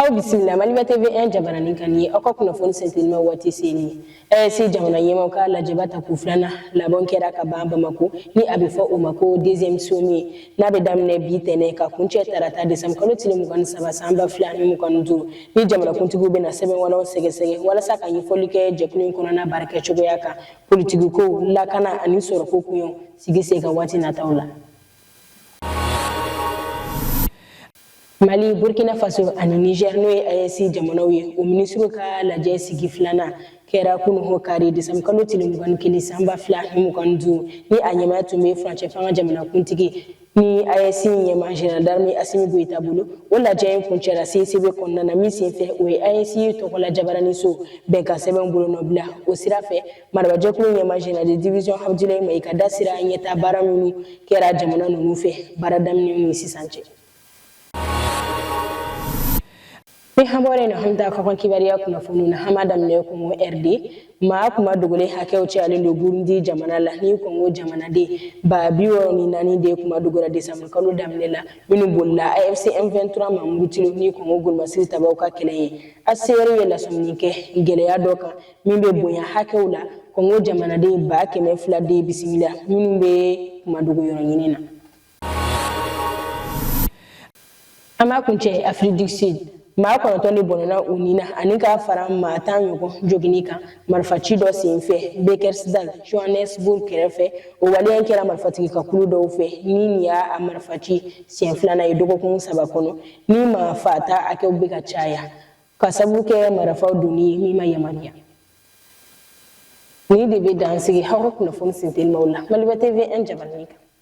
aw bisimila maliba tv 1 jabaranin kan nin ye aw ka kunnafoni sintelima waati selen AES jamana ɲɛmaw ka lajɛba tako filanan labɔn kɛra ka ban bamako ni a bɛ fɔ o ma ko deuxième sommet n'a bɛ daminɛ bi tɛnɛ ka kuncɛ tarata desanbu kalo tile mugan ni saba san ba fila ni mugan ni duuru Ni jamanakuntigiw bɛna sɛbɛn wɛrɛw sɛgɛsɛgɛ walasa ka ɲɛfɔli kɛ jɛkulu in kɔnɔna baarakɛ cogoya kan politigiko lakana ani sɔrɔko koɲɛw sigi sen kan waati nataw la mali burkina faso ani niger n'o ye AES jamanaw ye o minisiriw ka lajɛ sigi filanan kɛra kunu ho kari desanbu kalo tile mugan ni kelen sanba fila ni mugan ni duuru ni a ɲɛmaya tun bɛ furancɛ fanga jamanakuntigi ni AES ɲɛmaa Jenerali d'armée Asimi Goyita bolo o lajɛ in kuncɛra CICB kɔnɔna na min senfɛ o ye AES tɔgɔla jabaraniso bɛnkan sɛbɛn bolonɔbila o sira fɛ marabajɛkulu ɲɛmaa Jenerali de division Abudulayi Mayiga da sera ɲɛtaa baara minnu kɛra jamana ninnu fɛ baara daminɛ ni sisan cɛ. ni an bɔra nin na an bɛ taa kɔkan kibariya kunnafoni na an b'a daminɛ kongo rd maa kunmadogolen hakɛw cayalen don burundi jamana la ni kongo jamanaden ba bi wɔɔrɔ ni naani de kun madogora desanburu kalo daminɛ la minnu bolila afc m23 maa murutilenw ni kongo golomasiri tabaw ka kɛlɛ ɲɛ hcr ye lasɔmini kɛ gɛlɛya dɔ kan min bɛ bonya hakɛw la kongo jamanaden ba kɛmɛ fila de bisimila minnu bɛ kunmadogo yɔrɔ ɲini na An b'a kuncɛ Afrique du Sud maa kɔnɔntɔn de bɔnna u ni na ani ka fara maa tan ɲɔgɔn joginni kan marifa ci dɔ sen fɛ Bekkersdal Johannesburg kɛrɛfɛ o waleya in kɛra marifatigi ka kulu dɔw fɛ ni nin y'a marifa ci siɲɛ filanan ye dɔgɔkun saba kɔnɔ ni maa faata hakɛw bɛ ka caya ka sabu kɛ marifaw donni ye min ma yamaruya nin de bɛ dansigi aw ka kunnafoni sintelimaw la maliba tv 1 jabaranin kan